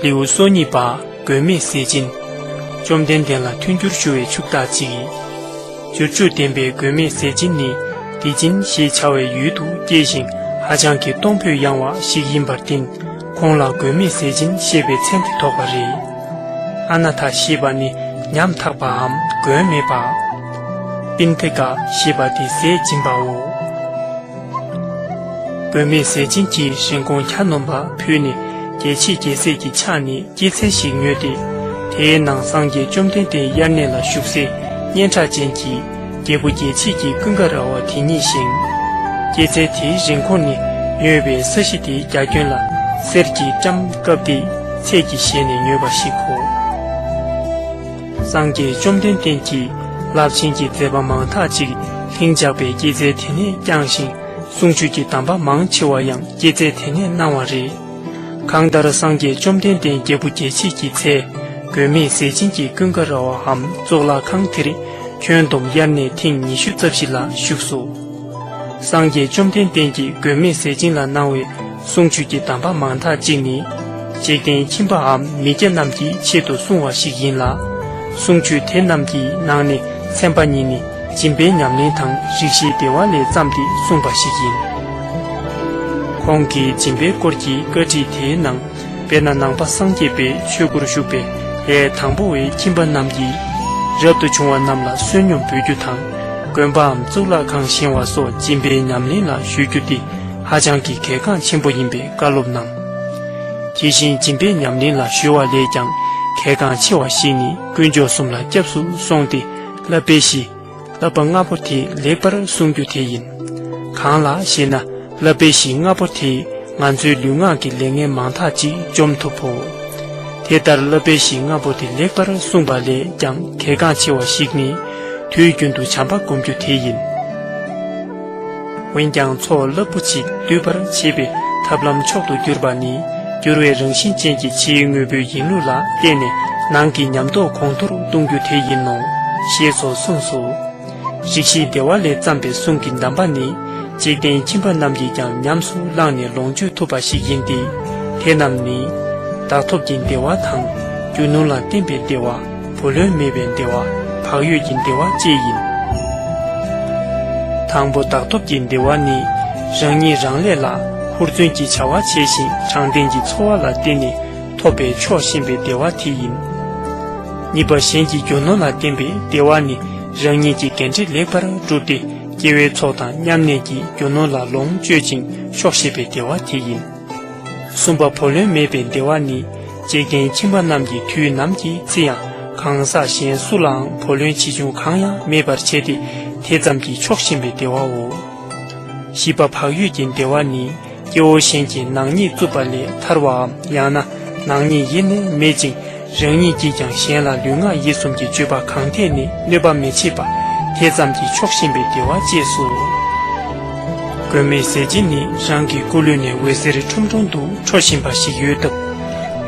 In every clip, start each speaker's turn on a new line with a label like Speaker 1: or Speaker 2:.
Speaker 1: ལེའུ་སོ་གཉིས་པ་མགོན་མེད་ཟས་སྦྱིན། བཅོམ་ལྡན་འདས་ལ་མཐུན་འགྱུར་ཞུ་བའི་ཕྱུག་བདག་ཅིག། རྒྱུར་ཆུ་ལྡན་པའི་མགོན་མེད་ཟས་སྦྱིན་ནི་བདེ་སྦྱིན་ཞེས་བྱ་བའི་ཡུལ་དུ་སྐྱེས་ཤིང་ཧ་ཅང་གི་གཏོང་ཕོད་ཡངས་བ་ཞིག་ཡིན་པར་བརྟེན། ཁོང་ལ་དགོས་མེད་ཟས་སྦྱིན་བཤད་པའི་མཚན་དེ་ཐོགས་པ་རེད། ཨ་ན་ཐ་ཞེས་པ་ནི་ཉམ་ཐག་པའམ་མགོན་མེད་པ། པིན་ཐི་ཀ་ཞེས་པ་དེ་ཟས་སྦྱིན་པའོ། དགོས་མེད་ཟས་སྦྱིན་གྱིས་རིན་གོང་གྱ་ནོམ་པ་ཕུལ་ནས་རྒྱལ་ཆེས་རྒྱལ་སྲས་ཀྱི་ཕྱག་ནས་སྐྱེད་ཚལ་ཞིག་ཉོས་ཏེ། དེའི་ནང་སངས་རྒྱས་བཅོམ་ལྡན་འདས་དབྱར་གནས་ལ་བཞུགས་སའི་སྙན་གྲགས་ཅན་གྱི། རྒྱལ་བུ་རྒྱལ་བྱེད་ཀྱི་ཀུན་དགའ་ར་བ་དེ་ཉིད་ཞིང། སྐྱེད་ཚལ་དེའི་རིན་གོང་ནི་ཉོས་པའི་ས་གཞི་དེའི་རྒྱ་ཁྱོན་ལ་གསེར་གྱི་སྐྲའམ་སྐབས་དེའི་ཚད་ཀྱིས་བཞེས་ནས་ཉོས་པ་ཞིག་གོ། སངས་རྒྱས་བཅོམ་ལྡན་འདས་ཀྱིས་རླབས་ཆེན་གྱི་མཛད་པ་མང་དག་ཅིག་ལྷིང་འཇགས་པའི་སྐྱེད་ཚལ་དེ་ནས་བསྐྱངས་ཤིང་གསུང་ཆོས་ཀྱི་གདམས་པ་མང་ཆེ་བ་ཡང་སྐྱེད་ཚལ་དེ་ནས་གནང་བ་རེད། གང་ལྟར་སངས་རྒྱས་བཅོམ་ལྡན་འདས་རྒྱལ་བུ་རྒྱལ་བྱེད་ཀྱི་ཚེ། མགོན་མེད་ཟས་སྦྱིན་གྱི་ཀུན་དགའ་ར་བའམ་གཙུག་ལག་ཁང་དེར་ཁྱོན་བསྡོམས་དབྱར་གནས་ཐེངས་ཉི་ཤུ་རྩ་བཞི་ལ་བཞུགས་སོ། སངས་རྒྱས་བཅོམ་ལྡན་འདས་ཀྱིས་མགོན་མེད་ཟས་སྦྱིན་ལ་གནང་བའི་གསུང་ཆོས་ཀྱི་གདམས་པ་མང་དག་ཅིག་ནི། འཇིག་རྟེན་ཁྱིམ་པའམ་མི་སྐྱ་རྣམས་ཀྱི་ཆེད་དུ་གསུང་བ་ཞིག་ཡིན་ལ། གསུང་ཆོས་དེ་རྣམས་ཀྱི་ནང་ནས་ཚན་པ་གཉིས་ནི། སྦྱིན་པའི་ཉམས་ལེན་དང་རིགས་བཞིའི་བདེ་བ་ལས་བརྩམས་ཏེ་གསུངས་པ་ཞིག་ཡིན། ཁོང་གིས་སྦྱིན་པའི་སྐོར་གྱི་བཀའ་ཁྲིད་དེའི་ནང་དཔེར་ན་ནང་པ་སངས་རྒྱས་པའི་ཆོས་སྒོར་ཞུགས་པའི་ལྷའི་དང་པོ་བའི་ཁྱིམ་པ་རྣམས་ཀྱིས། རབ་ཏུ་བྱུང་བ་རྣམས་ལ་བསོད་སྙོམས་འབུལ་རྒྱུ་དང། དགོན་པའམ་གཙུག་ལག་ཁང་བཞེང་བ་སོགས་སྦྱིན་པའི་ཉམས་ལེན་ལ་ཞུགས་རྒྱུ་དེ་ཧ་ཅང་གི་གལ་འགངས་ཆེན་པོ་ཡིན་པའི་བཀའ་སློབ་གནང། དེ་བཞིན་སྦྱིན་པའི་ཉམས་ལེན་ལ་གཞོལ་བ་ལས་ཀྱང་གལ་འགངས་ཆེ་བ་ཞིག་ནི་དཀོན་མཆོག་གསུམ་ལ་སྐྱབས་སུ་སོང་སྟེ། བསླབ་པའི་གཞི། བསླབ་པ་ལྔ་པོ་དེ་ལེགས་པར་བསྲུང་རྒྱུ་དེ་ཡིན། གང་ལགས་ཤེ་ན་བསླབ་པའི་གཞི་ལྔ་པོ་དེས་ང་ཚོའི་ལུས་ངག་གི་ལས་ངན་མང་དག་ཅིག་འཇོམས་ཐུབ་བོ། དེ་ལྟར་བསླབ་པའི་གཞི་ལྔ་པོ་དེ་ལེགས་པར་བསྲུངས་པ་ལས་ཀྱང་གལ་འགངས་ཆེ་བ་ཞིག་ནི། དུས་རྒྱུན་དུ་བྱམས་པ་བསྒོམ་རྒྱུ་དེ་ཡིན། འོན་ཀྱང་མཚོ་རླབས་པོ་ཆེ་སྡུད་པར་བྱེད་པའི་ཐབས་ལམ་མཆོག་ཏུ་གྱུར་པ་ནི་འགྱུར་བའི་རང་བཞིན་ཅན་གྱི་ཕྱིའི་དངོས་པོའི་ཡིན་ལུགས་ལ་བརྟེན་ནས་ནང་གི་ཉམས་རྟོགས་གོང་མཐོར་གཏོང་རྒྱུ་དེ་ཡིན་ནོ། ཞེས་སོགས་གསུངས་སོ། རིགས་བཞིའི་བདེ་བ་ལས་བརྩམས་པའི་གསུང་གི་གདམས་པ་ནི་འཇིག་རྟེན་ཁྱིམ་པ་རྣམས་ཀྱིས་ཀྱང་ཉམས་སུ་བླངས་ནས་ལོངས་སྤྱོད་ཐུབ་པ་ཞིག་ཡིན་ཏེ། དེ་རྣམས་ནི། བདག་ཐོབ་ཀྱི་བདེ་བ་དང། རྒྱུ་ནོར་ལ་བརྟེན་པའི་བདེ་བ། བུ་ལོན་མེད་པའི་འདེ་བ། བག་ཡོད་ཀྱི་འདེ་བ་བཅས་ཡིན། དང་པོ་བདག་སྟོབས་ཀྱི་འདེ་བ་ནི། རང་ཉིད་རང་ལས་ལ་ཧུར་བརྩོན་གྱིས་བྱ་བ་བྱས་ཤིང་དྲང་བདེན་གྱི་འཚོ་བ་ལ་བརྟེན་ནས་ཐོབ་པའི་ཆོག་ཤེས་པའི་འདེ་བ་དེ་ཡིན། གཉིས་པ་གཞན་གྱི་རྒྱུ་ནོར་ལ་བརྟེན་པའི་འདེ་བ་ནི་རང་ཉིད་ཀྱི་འགན་འཁྲི་ལེགས་པར་བསྒྲུབས་ཏེ་སྐྱེ་བོའི་ཚོགས་དང་མཉམ་གནས་ཀྱིས་རྒྱུ་ནོར་ལ་ལོངས་སྤྱོད་ཅིང་ཆོག་ཤེས་པའི་འདེ་བ་དེ་ཡིན། གསུམ་པ་བུ་ལོན་མེད་པའི་འདེ་བ་ནི། གཅེས་རྒན་ཁྱིམ་པ་རྣམས་ཀྱིས་དུས་ནམ་གྱི་རྩི་ཡང་གང་ཟག་གཞན་སུ་ལའང་བུ་ལོན་ཆེ་ཆུང་གང་ཡང་མེད་པར་བྱས་ཏེ་དེ་ཙམ་གྱིས་ཆོག་བཞིན་པའི་འདེ་བའོ། བཞི་པ་བག་ཡོད་ཀྱི་འདེ་བ་ནི། སྐྱེ་བོ་གཞན་གྱིས་ནག་ཉེས་བཙུགས་པ་ལས་ཐར་བའམ་ཡང་ན་ནག་ཉེས་ཡེ་ནས་མེད་ཅིང། རང་ཉིད་ཀྱིས་ཀྱང་གཞན་ལ་ལུས་ངག་ཡིད་གསུམ་གྱི་སྤྱོད་པ་གང་ཐད་ནས་གནོད་པ་མི་བྱེད་པ། དེ་ཙམ་གྱིས་ཆོག་གཤིན་པའི་བདེ་བ་བཅས་སོ། མགོན་མེད་ཟས་སྦྱིན་ནི་རང་གི་སྐུ་ལུས་ནས་འོད་ཟེར་ཁྲུམ་ཁྲུམ་དུ་འཕྲོ་བཞིན་པ་ཞིག་ཡོད་སྟབས།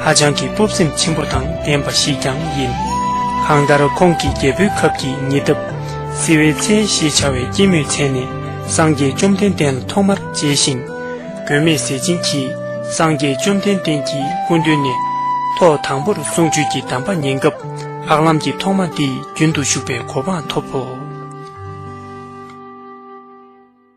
Speaker 1: ཧ་ཅང་གི་སྤོབས་སེམས་ཆེན་པོ་དང་ལྡན་པ་ཞིག་ཀྱང་ཡིན། གང་ལྟར་ཁོང་གིས་རྒྱལ་པོའི་ཁབ་ཀྱི་ཉི་ཟླ། བསིལ་བའི་ཚལ་ཞེས་བྱ་བའི་སྐྱེད་མོས་ཚལ་ནས་སངས་རྒྱས་བཅོམ་ལྡན་འདས་ལ་ཐོག་མར་མཇལ་ཞིང། བུད་མེད་ཟས་སྦྱིན་གྱིས་སངས་རྒྱས་བཅོམ་ལྡན་འདས་ཀྱི་སྐུ་མདུན་ནས། ཐོག་དང་པོར་གསུང་ཆོས་ཀྱི་གདམས་པ་ཉན་སྐབས་ལྷག་ལམ་གྱི་ཐོག་མ་འདི་རྒྱུན་དུ་ཞུགས་པའི་གོ་འཕང་ཐོབ་བོ།